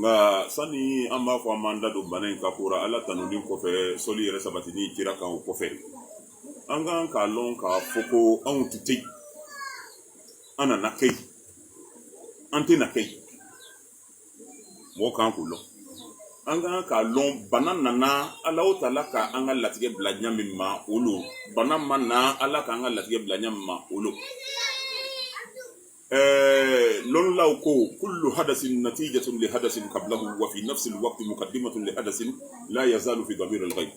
nka sani an b'a fɔ an b'an da don bana in ka ko ra ala tanuni kɔfɛ sɔli yɛrɛ sabatini kira kan o kɔfɛ an kan k'a lɔn k'a fɔ ko an tun tɛ an nana kɛ an tɛ na kɛ mɔgɔ kan k'o lɔn an kan k'a lɔn bana nana alahu taala ka an ka latigɛ bila ɲɛ min ma o lo bana ma na ala k'an ka latigɛ bila ɲɛ min ma o lo Ɛɛ lɔnnilaw ko kullu hadasin natijatun li hadasin qablahu wa fi nafsil waqt muqaddimatun li hadasin la yazalu fi damiril ghayb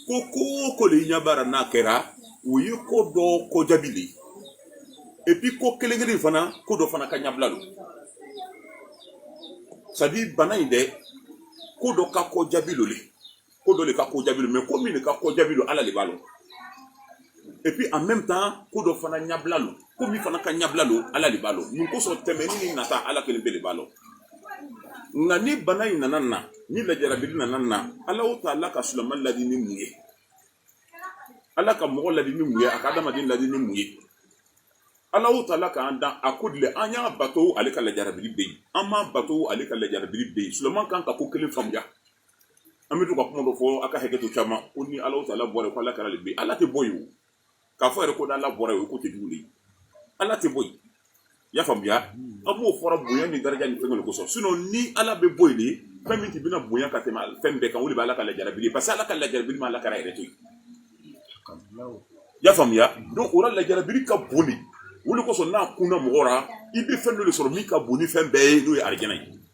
ko ko o ko le ɲa b'a ra n'a kɛra o ye ko dɔ ko jaabi le ye et puis ko kelen kelen fana ko dɔ fana ka ɲabila lo c'est à dire bana in dɛ ko dɔ ka ko jaabi lo ko dɔ le ka ko jaabi lo ko min le ka ko jaabi lo ala le b'a lɔn et puis en même temps ko dɔ fana ɲabila lo ko min fana ka ɲabila lo ala le b'a lɔn mun kosɔn tɛmɛni ni nata ala kelenpe le b'a lɔn nka ni bana in nana na ni lajarabili nana na alahu taala ka silama ladi ni mun ye ala ka mɔgɔ ladi ni mun ye a ka adamaden ladi ni mun ye alahu taala k'an dan a ko dile an y'a bato ale ka lajarabili bɛ yen an m'a bato ale ka lajarabili bɛ yen silama kan ka ko kelen faamuya an bɛ to ka kuma dɔ fɔ aw ka hakɛ to caman ko ni alahu taala bɔra yen ko ala kira bɛ ala tɛ bɔ yen k'a fɔ yɛrɛ ko n' ala bɔra yen ko tɛ jugu ye ala tɛ bɔ y'a faamuya an b'o fɔra bonya ni daraja ni fɛn kosɔn sinon ni ala bɛ bɔ yen fɛn min tun bɛna bonya ka tɛmɛ fɛn bɛɛ kan o le bɛ ala ka lajarabili parce que ala ka lajarabili ma ala kira to y'a faamuya donc o ra lajarabili ka bon o le kosɔn n'a kunna mɔgɔ ra i bɛ fɛn dɔ le sɔrɔ min ka bon ni fɛn bɛɛ ye n'o ye arajana ye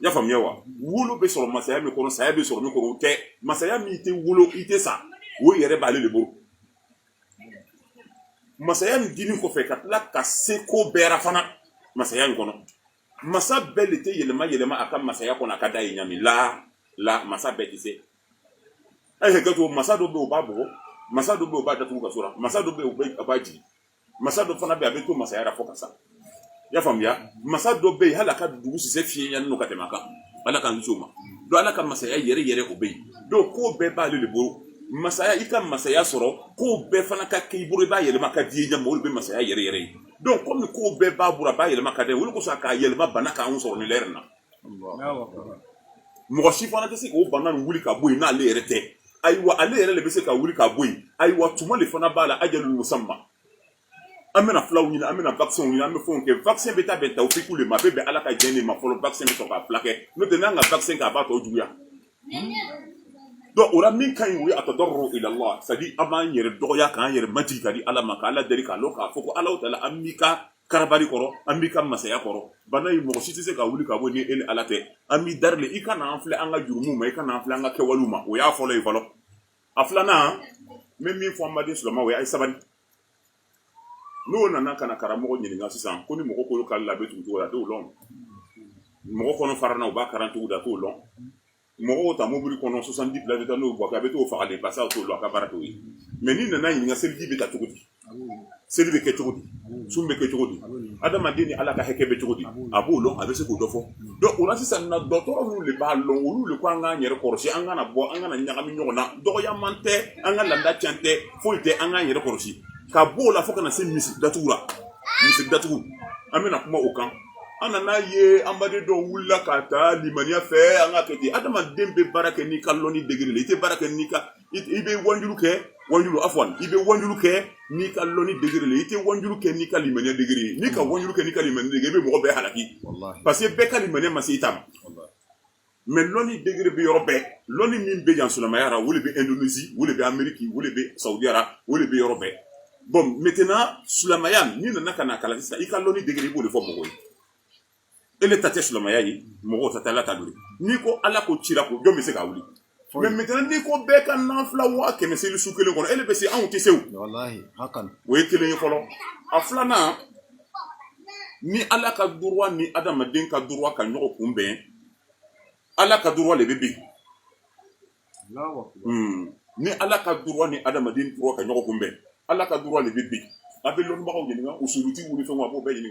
y'a faamuya wa wolo bɛ sɔrɔ masaya min kɔnɔ saya bɛ sɔrɔ min kɔnɔ o tɛ masaya min i tɛ wolo i tɛ sa o yɛrɛ b'ale le bolo masaya min dini kɔfɛ ka tila ka se ko bɛɛ ra fana masaya in kɔnɔ masa bɛɛ le tɛ yɛlɛma yɛlɛma a ka masaya kɔnɔ a ka d'a ye ɲa min la masa bɛɛ tɛ se a ye hakɛ to masa dɔ bɛ yen o b'a bugɔ masa dɔ bɛ yen o b'a datugu kaso ra masa dɔ bɛ yen o b'a jigin masa dɔ fana bɛ a bɛ to masaya ra fo ka sa i y'a faamuya masa dɔ bɛ yen hal'a ka dugu sisɛ fiɲɛ yanni ka tɛmɛ kan ala ka muso ma donc ala ka masaya yɛrɛ yɛrɛ o bɛ yen donc ko bɛɛ b'ale le bolo masaya i ka masaya sɔrɔ ko bɛɛ fana ka k'i bolo i b'a yɛlɛma ka d'i ye ɲa min o le bɛ masaya yɛrɛ yɛrɛ ye donc komi ko bɛɛ b'a bolo a b'a yɛlɛma ka dɛ o le kosɔn k'a yɛlɛma bana k'an sɔrɔ nin lɛri na mɔgɔ si fana tɛ se ka bana nin wuli ka bɔ yen n'ale yɛrɛ tɛ ayiwa ale yɛrɛ de bɛ se ka wuli ka bɔ yen ayiwa tuma le fana b'a la ajalun musamma an bɛna fulaw ɲini an bɛna vaccin ɲini an bɛ fɛnw kɛ vaccin bɛ taa bɛn tawfiku le ma a bɛ bɛn ala ka jɛn le ma fɔlɔ vaccin bɛ sɔrɔ k'a fulakɛ n'o tɛ n'an ka vaccin kɛ a b'a tɔ juguya donc o la min ka ɲi o ye attadarru ila llah c'est à dire an b'an yɛrɛ dɔgɔya k'an yɛrɛ majigi ka di ala ma ka ala deli k'a lɔn k'a fɔ ko ala taala an b'i ka kara kɔrɔ an b'i ka masaya kɔrɔ bana ye mɔgɔ si tɛ se ka wuli ka bɔ ni ele ala tɛ an b'i dari le i kana an filɛ an ka jurumu ma i kana an filɛ an ka kɛwalew ma o y'a fɔlɔ ye fɔlɔ a filanan n bɛ min fɔ an baden sulamaw ye a ye sabali n'o nana ka na karamɔgɔ ɲininka sisan ko ni mɔgɔ kolo karila a bɛ tugu cogo di a t'o lɔn mɔgɔ kɔnɔ farana u b'a kala cogo di a t'o lɔn mɔgɔw ta mobili kɔnɔ 70 places bɛ taa n'o buwake a bɛ t'o faga de parce que a t'o dɔn a ka baara t'o ye mais n'i nana ɲininka seliji bɛ ta cogo di seli bɛ kɛ cogo di sun bɛ kɛ cogo di adamaden ni ala ka hakɛ bɛ cogo di a b'o lɔn a bɛ se k'o dɔ fɔ donc o la sisan na dɔgɔtɔrɔ minnu de b'a lɔn olu de ko an k'an yɛrɛ kɔlɔsi an kana bɔ an kana ɲagami ɲɔgɔn na dɔgɔyaman tɛ an ka laada can tɛ foyi tɛ an k'an yɛrɛ kɔlɔsi ka b'o la fo ka na se misiri datugu la misiri datugu an bɛna kuma o kan an nana ye an baden dɔw wulila ka taa limaniya fɛ an ka kɛ di adamaden bɛ baara kɛ n'i ka lɔni degré le i tɛ baara kɛ n'i ka i bɛ wanjulu kɛ wanjulu afwan i bɛ wanjulu kɛ n'i ka lɔni degré le i tɛ wanjulu kɛ n'i ka limaniya degré n'i ka wanjulu kɛ n'i ka limaniya degré i bɛ mɔgɔ bɛɛ halaki parce que bɛɛ ka limaniya ma se i ta mais lɔnni degré bɛ yɔrɔ bɛɛ lɔnni min bɛ yan silamɛya ra o le bɛ indonésie o le bɛ amérique o le bɛ sawudiya ra o le bɛ yɔrɔ bɛɛ bon maintenant silamɛya n'i nana ka na kalan sisan i ka lɔnni degré i b'o de fɔ mɔgɔw ye ele ta tɛ silamɛya ye mɔgɔ ta tɛ ala ta don n'i ko ala ko cira ko jɔn bɛ se ka wuli Mais maintenant n'i ko bɛɛ ka nafila waa kɛmɛ seli su kelen kɔnɔ ele bɛ se anw tɛ se o ye kelen ye fɔlɔ a filanan ni ala ka droit ni adamaden ka droit ka ɲɔgɔn kunbɛn ala ka droit de bɛ bin ni ala ka droit ni adamaden droit ka ɲɔgɔn kunbɛn ala ka droit de bɛ bin a bɛ lɔnbagaw ɲini u suurti wili fɛn bɛɛ ɲini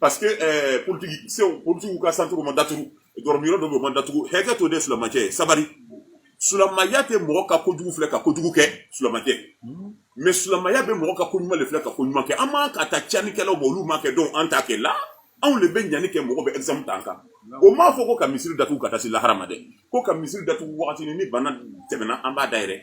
Parce que politigi politigiw ka centre ma datugu dɔrɔminyɔrɔ dɔw bɛɛ ma datugu hakɛ to de sulamacɛ sabari sulamaya tɛ mɔgɔ ka kojugu filɛ ka kojugu kɛ sulama tɛ mais silamɛya bɛ mɔgɔ ka ko ɲuman le filɛ ka ko ɲuman kɛ an man ka taa canikɛlaw ma olu m'a kɛ donc an t'a kɛ la anw de bɛ ɲani kɛ mɔgɔ bɛ exemple ta an kan o m'a fɔ ko ka misiri datugu ka taa se lahara ma dɛ ko ka misiri datugu waati ni bana tɛmɛna an b'a dayɛrɛ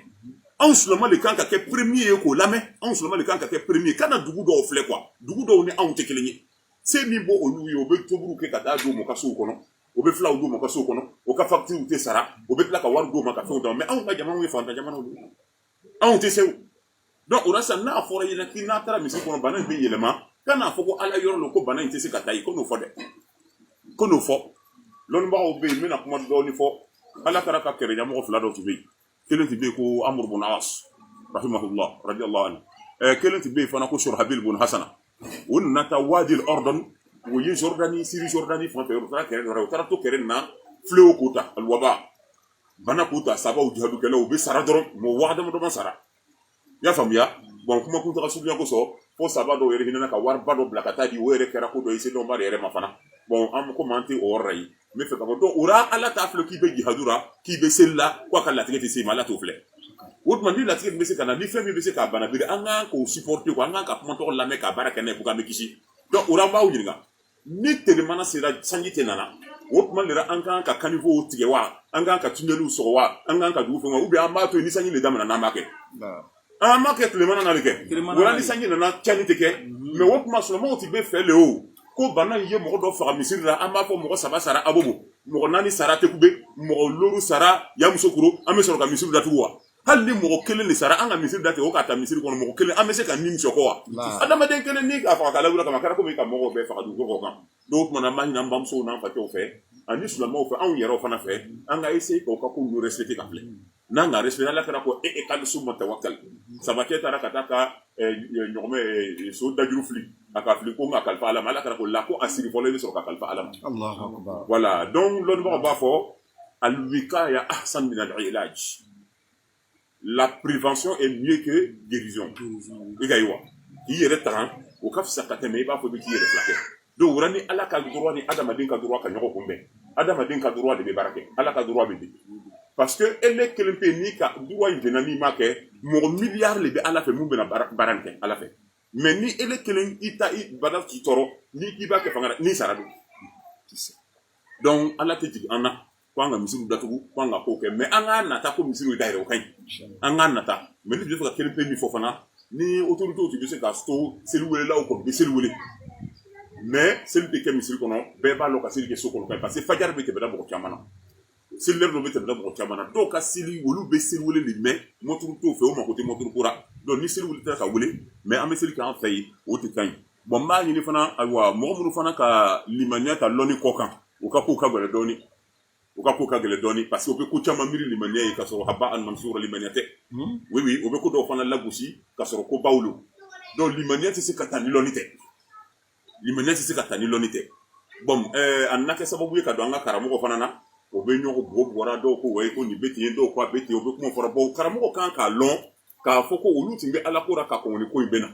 anw sulama de kan ka kɛ premier ye k'o lamɛn anw sulama de kan ka kɛ premier kana dugu dɔw filɛ quoi dugu dɔw ni anw tɛ kelen ye se min b'olu ye o bɛ tobiliw kɛ ka taa di u ma u ka sow kɔnɔ o bɛ filaw di u ma u ka sow kɔnɔ o ka facture tɛ sara o bɛ tila ka wari di u ma ka fɛnw d'a ma mais anw ka jamanaw ye fantan jamanaw de anw tɛ se o donc o la sisan n'a fɔra i ɲɛna k'i n'a taara misiri kɔnɔ bana in bɛ yɛlɛma kan'a fɔ ko ala yɔrɔ lo ko bana in tɛ se ka taa yen kan'o fɔ dɛ kan'o fɔ lɔnnibagaw bɛ yen n bɛna kuma dɔɔni fɔ ala taala ka kɛlɛɲamɔgɔ fila dɔ tun bɛ yen kelen tun bɛ yen ko amuru bun asi rahimahullah radiyallahu anhu ɛɛ kelen tun bɛ yen fana ko shurahabil bun hasana o nana taa wadi al-ɔrɔdɔni o ye jordanie syrie jordanie fan fɛ o taara kɛrɛ dɔ rɔ o taara to kɛrɛ nin na fléau k'o ta aluwaba bana k'o ta sahabaw jihadukɛlaw u bɛ sara dɔrɔn mɔgɔ waa damadama sara i y'a faamuya bon kuma kuntaga surunya kosɔn fo saba dɔw yɛrɛ hinɛna ka wariba dɔ bila ka taa di o yɛrɛ kɛra ko dɔ i senba de yɛrɛ ma fana bon an komi an tɛ o yɔrɔ la yen n fɛ ka fɔ donc o la ala t'a filɛ k'i bɛ jihadu ra k'i bɛ seli la k'a ka latigɛ tɛ se ma ala t'o filɛ o tuma ni latigɛ bɛ se ka na ni fɛn min bɛ se k'a bana biri an kan k'o supporter an kan ka kuma tɔgɔ lamɛn ka baara kɛ n'a ye pour que an bɛ kisi donc o la an b'aw ɲininka ni telemana sera sanji tɛ nana o tuma de la an kan ka caniveaux tigɛ wa an kan ka tunɛliw sɔgɔ wa an kan ka dugu fɛn ou bien an b'a to ni sanji de daminɛna an b'a kɛ an b'a kɛ tilemana na de kɛ wala ni sanji nana cɛnni tɛ kɛ mais o tuma sulamaw tɛ bɛ fɛ de o ko bana ye mɔgɔ dɔ faga misiri la an b'a fɔ mɔgɔ saba sara abobo mɔgɔ naani sara tekube mɔgɔ looru sara yamusokuro an bɛ sɔrɔ ka misiri datugu wa hali ni mɔgɔ kelen de sara an ka misiri datugu o ka taa misiri kɔnɔ mɔgɔ kelen an bɛ se ka nin sɔgɔ wa adamaden kelen ni k'a faga k'a lawuli kama kɛra komi ka mɔgɔw bɛɛ faga dugu kɔ kan donc o tuma na an b'a ɲini an bamusow n'an facɛw fɛ ani silamɛw fɛ anw yɛrɛw fana fɛ an ka essayer k'o ka kow respecter ka filɛ n'an ka respecter ala kira ko e ikil summa tawakkal sabakɛ taara ka taa ka eh, eh, ɲɔgɔmɛ eh, so dajuru fili a ka fili ko n k'a kalifa ala ma ala kira ko la ko a siri fɔlɔ i bɛ sɔrɔ k'a kalifa ala ma voilà donc lɔnnibagaw b'a fɔ al wikaya ahsan min al ilaj la prévention est mieux que guérison i ka ye wa k'i yɛrɛ tanga o ka fisa ka tɛmɛ i b'a fɔ i bɛ k'i yɛrɛ furakɛ donc o ra ni ala ka droit ni adamaden ka droit ka ɲɔgɔn kunbɛn adamaden ka droit de bɛ baara kɛ ala ka droit bɛ di parce que ele kelen pe n'i ka droit in jɛna n'i m'a kɛ mɔgɔ miliyari de bɛ ala fɛ min bɛna baara in kɛ ala fɛ mais ni ele kelen i ta i bala k'i tɔɔrɔ ni i b'a kɛ fanga la n'i sara don donc ala tɛ jigin an na k' an ka misiri datugu k' an ka k'o kɛ mais an ka nata ko misiri dayɛlɛ o ka ɲi an ka nata mais n bɛ fɛ ka kelen pe min fɔ fana ni autorités tun bɛ se k'a to seli welela k'o bɛ seli wele mais seli bɛ kɛ misiri kɔnɔ bɛɛ b'a dɔn ka seli kɛ so kɔnɔ parce que fajari bɛ tɛmɛ da mɔgɔ caman na seli lɛri dɔ bɛ tɛmɛ mɔgɔ caman na dɔw ka seli olu bɛ seli wele de mɛn mɔnturu t'o fɛ o mako tɛ mɔnturu ko ra donc ni seli wele ka wele mais an bɛ seli k' an fɛ yen o tɛ ka ɲi bon n b'a ɲini fana ayiwa mɔgɔ minnu fana ka limaniya ta lɔni kɔ kan u ka ko ka gɛlɛn dɔɔnin u ka ko ka gɛlɛn dɔɔni parce que u bɛ ko caman miiri limaniya ye ka sɔrɔ habaan mansura limaniya tɛ u bɛ ko dɔw fana lagosi ka sɔrɔ kobaw don donc limaniya tɛ se ka taa lɔni tɛ limaniya tɛ se ka taa ni lɔni tɛ bon eh, a na kɛ sababu ye ka don an ka karamɔgɔ fana na o bɛ ɲɔgɔn bɔ bɔra dɔw ko wa ko nin bɛ ten dɔw ko a bɛ ten o bɛ kuma fɔra bon karamɔgɔ kan k'a lɔn k'a fɔ ko olu tun bɛ ala ko ra ka ko ko in bɛ na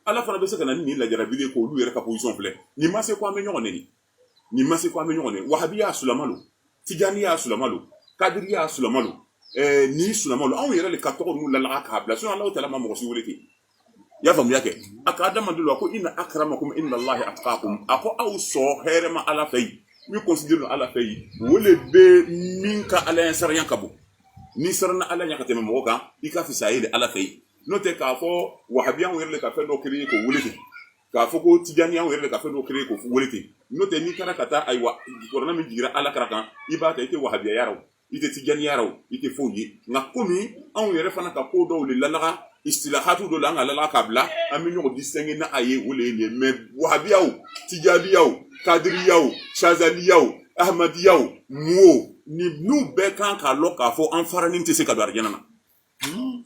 ala fana bɛ se ka na ni lajarabi ko olu yɛrɛ ka position filɛ nin ma se ko an bɛ ɲɔgɔn nɛni nin ma se ko an bɛ ɲɔgɔn nɛni wahabiya sulama don tijaniya sulama don kadiriya sulama don eh, ni sulama don anw yɛrɛ de ka tɔgɔ nunu lala ka bila so ala taala ma mɔgɔ si wele ten i y'a faamuya kɛ a ka adamadenw la ko inna akramakum inda lahi atqakum a ko aw sɔn hɛrɛma ala fɛ yen min considéré ala fɛ yen o de bɛ min ka ala ɲɛsiranya ka bon n'i siranna ala ɲɛ ka tɛmɛ mɔgɔ kan i ka fisa ye de ala fɛ yen n'o tɛ k'a fɔ wahabiya an yɛrɛ de ka fɛn dɔ créer k'o wele ten k'a fɔ ko tijaniya an yɛrɛ de ka fɛn dɔ créer k'o wele ten n'o tɛ n'i taara ka taa ayiwa kurana min jiginra ala kira kan i b'a ta i tɛ wahabiya y'a rɔ i tɛ tijaniya y'a rɔ i tɛ foyi ye nka komi anw yɛrɛ fana ka ko dɔw de lalaga isitilahatu dɔ la an ka la ka bila an bɛ ɲɔgɔn distinguer n'a ye o de ye nin mais wahabiyaw tijaniyaw kadiriyaw sazaliyaw amadiyaw mɔgɔ ninnu bɛɛ kan k'a dɔn k'a fɔ an faranin tɛ se ka don alijana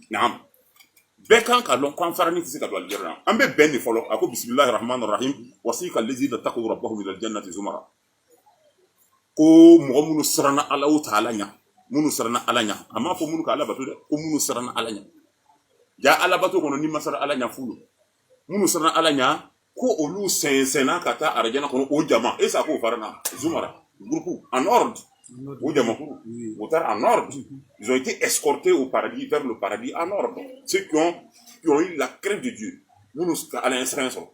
na an bɛɛ kan k'a dɔn an faranin tɛ se ka don alijana na an bɛ bɛn de fɔlɔ a ko bisimilahi rahmani rahim wasika lazina takaw rabahum ilal janati zumara ko mɔgɔ minnu siranna Allahu taala ɲɛ minnu siranna Ala ɲɛ a m'a fɔ minnu ka Ala bato dɛ ko minnu siranna Ala ɲɛ jaa Ala bato kɔnɔ n'i ma siran Ala ɲɛ fu don minnu siranna Ala ɲɛ ko olu sɛnsɛnna ka taa arajana kɔnɔ o jama est ce que a k'o fara na zumara groupe en ordre o jamakulu o taara en ordre ils ont été escortés au paradis vers le paradis en ordre ceux qui ont qui ont eu la crainte de Dieu minnu ka Ala ɲɛsiran sɔrɔ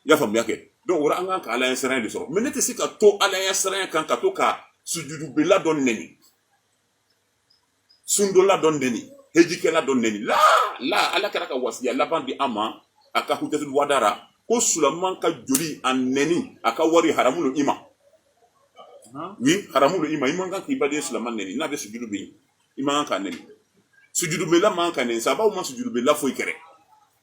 i y'a faamuya kɛ donc o ra an kan ka ala ɲɛsiranya de sɔrɔ mais ne tɛ se ka to ala ɲɛsiranya kan ka to ka sujudubela dɔ nɛni sundola dɔ nɛni hejikɛla dɔ nɛni la la ala kira ka wasiya laban di an ma a ka hujjatul wada ra ko sulaman ka joli a nɛni a ka wari haramu lo i ma oui haramu lo i ma i man kan k'i baden sulaman nɛni n'a bɛ sujudu bɛ i man kan k'a nɛni sujudubela man kan ka nɛni sahabaw ma sujudubela foyi kɛrɛ i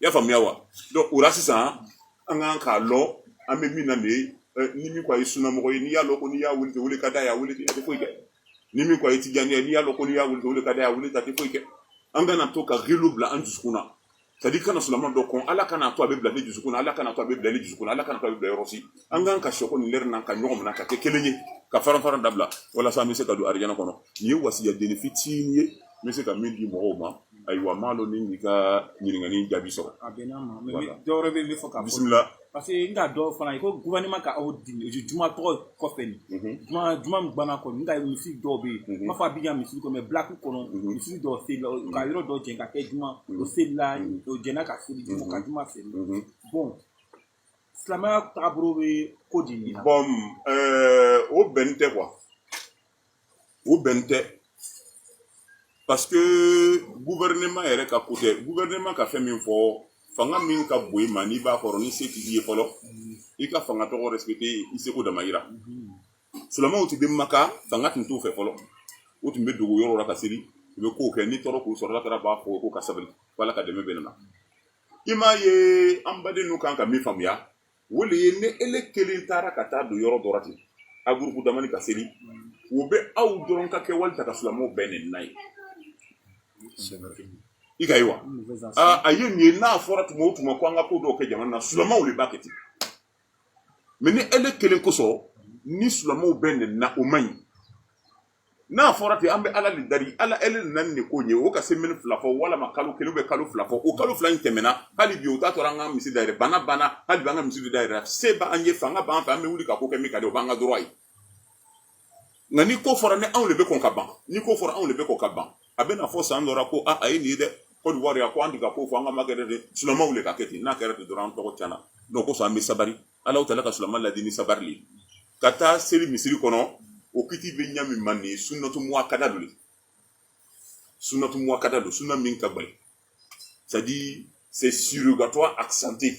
y'a faamuya wa donc o ra sisan an kan k'a lɔn an bɛ min na nin ye eh, ni min ko a ye sunamɔgɔ ye n'i y'a lɔn ko n'i y'a wele ten o le ka d'a ye a wele ten a tɛ foyi kɛ ni min ko a ye tijaniya ye n'i y'a lɔn ko n'i y'a wele ten o le ka d'a ye a wele ten a tɛ foyi kɛ an kana to ka ghilu bila an jusukun na c'est à dire i kana sulama dɔ kɔn ala kana to a bɛ bila ne jusukun na ala kana to a bɛ bila ne jusukun na ala kana to a bɛ bila yɔrɔ si an kan ka sɔkɔ nin lɛri na ka ɲɔgɔn minɛ ka kɛ kelen ye ka faran faran dabila walasa an bɛ se ka don arijana kɔnɔ nin ye wasiya deni fitinin ye n bɛ se ka min di mɔgɔw ma ayiwa n m'a lɔn ni i ka ɲininkali jaabi sɔrɔ a bɛn'a ma mais dɔwɛrɛ bɛ yen n bɛ fɛ k'a fɔ bisimila Parce que n ka dɔw fana ye ko gouvernement ka aw dɛmɛ juma tɔgɔ kɔfɛ nin juma juma min guwanna kɔni n ka misiri dɔw bɛ ye n m'a fɔ Abidjan misiri kɔnɔ mais black kɔnɔ misiri dɔw selila u ka yɔrɔ dɔw jɛn ka kɛ juma o selila o jɛnna ka seli juma ka juma seli bon silamɛya taabolo bɛ ko di nin na. Bɔn ɛɛ o bɛn tɛ quoi. o bɛ ten parce que gouvernement yɛrɛ ka côté gouvernement ka fɛn min fɔ fanga min ka bon i ma n'i b'a kɔrɔ ni se t'i ye fɔlɔ i ka fanga tɔgɔ respecter i seko dama yira sulamaw tun bɛ maka fanga tun t'u fɛ fɔlɔ u tun bɛ dogo yɔrɔ la ka seli u bɛ kow kɛ ni tɔɔrɔ k'u sɔrɔ kira b'a fɔ k'u ka sabali ala ka dɛmɛ bɛna na i m'a ye an badenw kan ka min faamuya o de ye ni ele kelen taara ka taa don yɔrɔ dɔ la ten aw groupe damani ka seli u bɛ aw dɔrɔn ka kɛwali ta ka sulamaw bɛɛ nɛni n'a ye i k'a ye wa a ye nin ye n'a fɔra tuma o tuma ko an ka ko dɔw kɛ jamana na sulamaw de b'a kɛ ten mais ni ele kelen kosɔn ni sulamaw bɛɛ nɛnina o man ɲi n'a fɔra ten an bɛ Ala de dari Ala le nana ni nin ko in ye o ka semaine fila fɔ walama kalo kelen ou bien kalo fila fɔ o kalo fila in tɛmɛna hali bi o t'a to la an ka misiri dayɛlɛ bana banna hali bi an ka misiri dayɛlɛ se b'an ye fanga b'an fɛ an bɛ wuli ka ko kɛ min ka di o b'an ka droit ye nka ni ko fɔra ni anw de bɛ kɔn ka ban ni ko fɔra anw de bɛ kɔn ka ban a bɛ na fɔ san dɔ la ko a a ye nin ye dɛ Côte d'Ivoire yan ko an tun ka ko fɔ an kan'a kɛ dɛ sulamaw de k'a kɛ ten n'a kɛra ten dɔrɔn an tɔgɔ tiɲɛna donc o kosɔn an bɛ sabali Allahu taala ka sulamaw ladi ni sabari ka taa seli misiri kɔnɔ o kiti bɛ ɲa min ma nin sunnatu muakkada don sunnatu muakkada don sunna min ka bali c'est-à-dire c'est surérogatoire accentué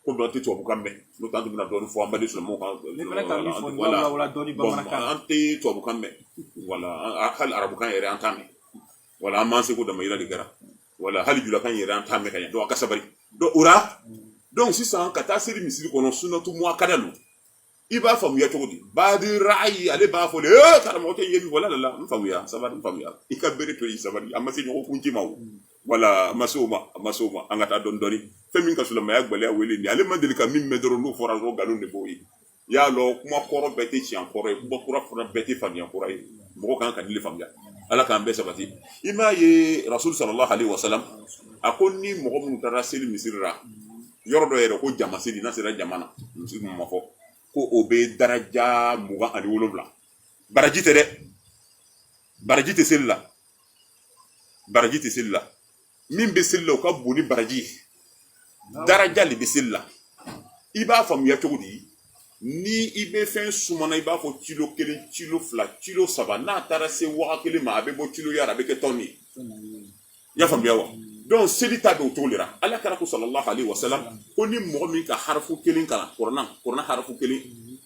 ko dɔw tɛ tubabukan mɛn n'o t'an bɛna dɔ fɔ an b'a sɔrɔ an tɛ tubabukan mɛn wala arabukan yɛrɛ an t'a mɛn wala an ma seko dama yira de kɛra wala hali julakan yɛrɛ an t'a mɛn ka ɲɛ donc a ka sabali dɔɔni o la donc sisan ka taa seli misiri kɔnɔ sunnatu muakkada don i b'a faamuya cogo di baadi ra'ayi ale b'a fɔ de ee karamɔgɔ tɛ ye min wala la n faamuya sabali n faamuya i ka bere to yen sabali a ma se ɲɔgɔn kunci ma o wala a ma se o ma a ma se o ma an ka taa dɔɔni dɔɔni fɛn min ka silamɛya gɛlɛya o le nin ale ma deli ka min mɛn dɔrɔn n'o fɔra dɔrɔn nkalon de b'o ye i y'a dɔn kuma kɔrɔ bɛɛ tɛ tiɲɛ kɔrɔ ye kuma kura fana bɛɛ tɛ faniya kura ye mɔgɔ kan ka nin le faamuya ala k'an bɛɛ sabati i m'a ye rasul sallallahu alaihi wasallam a ko ni mɔgɔ minnu taara seli misiri la yɔrɔ dɔ yɛrɛ ko jama seli n'a sera jama na misiri ma fɔ ko o bɛ daraja mugan ani wolonwula baraji tɛ dɛ baraji tɛ seli la baraji tɛ seli la min bɛ seli la o ka bon ni baraji ye daraja de bɛ seli la i b'a faamuya cogo di ni i bɛ fɛn sumana i b'a fɔ kilo kelen kilo fila kilo saba n'a taara se waga kelen ma a bɛ bɔ kiloya la a bɛ kɛ tɔni ye i y'a faamuya wa donc seli ta bɛ o cogo de la ala kira ko sallallahu alaihi wasallam ko ni mɔgɔ min ka harafu kelen kalan kurana kurana harafu kelen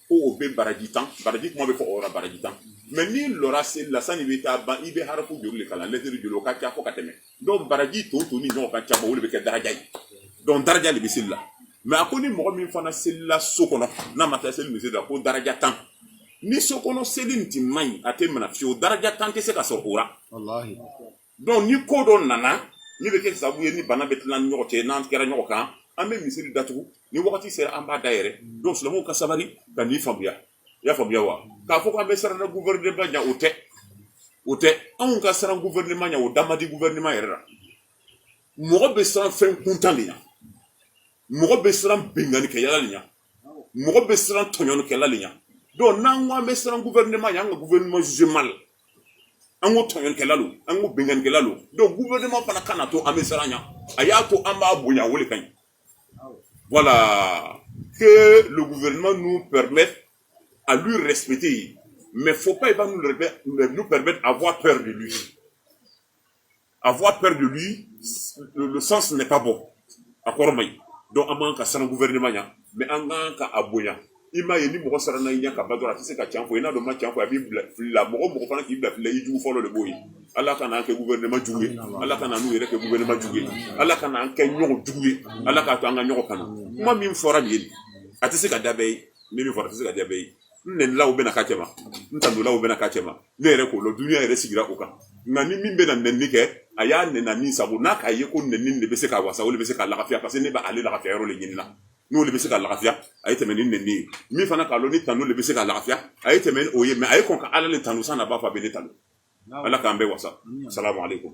ko o bɛ baraji tan baraji kuma bɛ fɔ o baraji tan mais n'i lɔra seli la san'i bɛ taa ban i bɛ harafu joli de kalan lɛtiri joli o ka ca fo ka tɛmɛ donc baraji to to ni ɲɔgɔn ka ca o de bɛ kɛ daraja ye donc daraja de bɛ seli la mais a ko ni mɔgɔ min fana selila so kɔnɔ n'a ma taa seli misiri la ko daraja tan ni so kɔnɔ seli nin tun man ɲi a tɛ minɛ fiyewu daraja tan tɛ se ka sɔrɔ o la donc ni ko dɔ nana min bɛ kɛ sababu ye ni bana bɛ tila an ni ɲɔgɔn cɛ n'an kɛra ɲɔgɔn kan an bɛ misiri datugu ni wagati sera an b'a dayɛlɛ donc silamɛw ka sabali ka nin faamuya i y'a faamuya wa k'a fɔ k'an bɛ siran na gouvernement ɲɛ o tɛ o tɛ anw ka siran gouvernement ɲɛ o da man di gouvernement yɛrɛ la mɔgɔ bɛ siran fɛn kuntan de ɲɛ mɔgɔ bɛ siran binkannikɛyala de ɲɛ mɔgɔ bɛ siran tɔɲɔlikɛla de ɲɛ donc n'an ko an bɛ siran gouvernement ɲɛ an ka gouvernement jugé mal an ko tɔɲɔlikɛla lo an ko binkannikɛla lo donc gouvernement fana kan'a to an bɛ siran a ɲɛ a y'a to an b'a bonya o de ka ɲi voilà que le gouvernement nous permette à lui respecter mais faut pas il va nous permettre avoir peur de lui avoir peur de lui le sens n'est pas bon a kɔrɔ man ɲi donc an man kan ka siran gouvernement ɲɛ mais an kan ka a bonya i m'a ye ni mɔgɔ siranna i ɲɛ ka ban dɔrɔn a tɛ se ka can fɔ i n'a ma can fɔ a b'i bila fili la mɔgɔ mɔgɔ fana k'i bila fili la i jugu fɔlɔ de b'o ye ala kan'an kɛ gouvernement jugu ye ala kan'u yɛrɛ kɛ gouvernement jugu ye ala kan'an kɛ ɲɔgɔn jugu ye ala k'a to an ka ɲɔgɔn kanu kuma min fɔra nin ye a tɛ se ka diya bɛɛ ye min fɔra a tɛ se ka diya bɛɛ ye n nɛnilaw bɛna k'a cɛma n tandolaw bɛna k'a cɛma ne yɛrɛ k'o lɔn duniya yɛrɛ sigira o kan nka ni min bɛna nɛni kɛ a y'a nɛni min sago n'a k'a ye ko nɛni de bɛ se k'a wasa o de bɛ se k'a lafiya parce que ne bɛ ale lafiya yɔrɔ de ɲini na n'o de bɛ se k'a lafiya a ye tɛmɛ ni nɛni ye min fana k'a lɔn ni tanu de bɛ se k'a lafiya a ye tɛmɛ n'o ye mais a ye kɔn ka ala le tanu sani a b'a fɔ a bɛ ne tanu ala k'an bɛɛ wasa salamu aleykum